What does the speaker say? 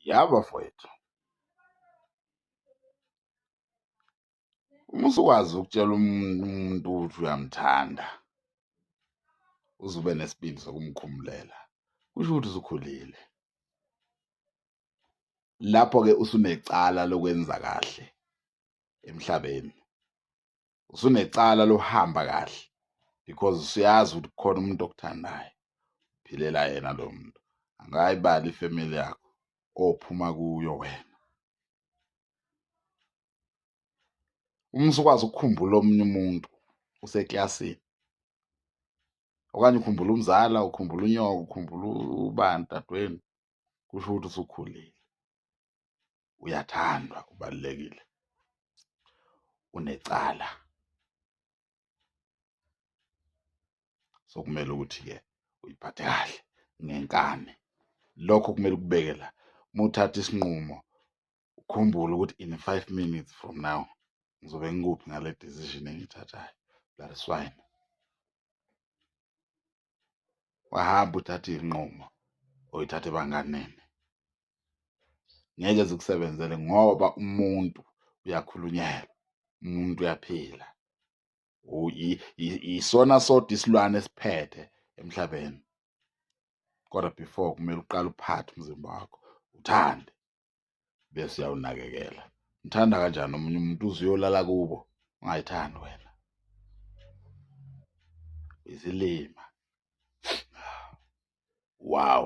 Ya bafowethu, uma usukwazi ukutshela umuntu ukuthi uyamthanda uze ube nesibindi sokumkhumulela kusho ukuthi usukhulile. Lapho-ke usunecala lokwenza kahle emhlabeni. usunecala lohamba kahle because usuyazi ukuthi khona umuntu okuthandayo philela yena lo muntu angayibali ifamily yakho ophuma kuyo wena uma usukwazi ukukhumbula omunye umuntu useklasini okanye ukhumbula umzala ukhumbula unyoko ukhumbula ubani dadweni kusho ukuthi usukhulile uyathandwa ubalekile unecala sokumele ukuthi ke uyiphathe kahle ngenkani lokho kumele kubeke la muthatha isinqumo ukhumbule ukuthi in 5 minutes from now ngizobe ngikuphi ngale decision engithathayo that is fine wahamba uthatha izinqumo oyithathe banganene ngeke zikusebenzele ngoba umuntu uyakhulunyelwa umuntu uyaphila isona sodwa isilwane esiphethe emhlabeni kodwa before kumele uqale uphathe umzimba wakho uthande bese uyawunakekela mthanda kanjani omunye umuntu uze uyolala kubo ungayithandi wena izilima wow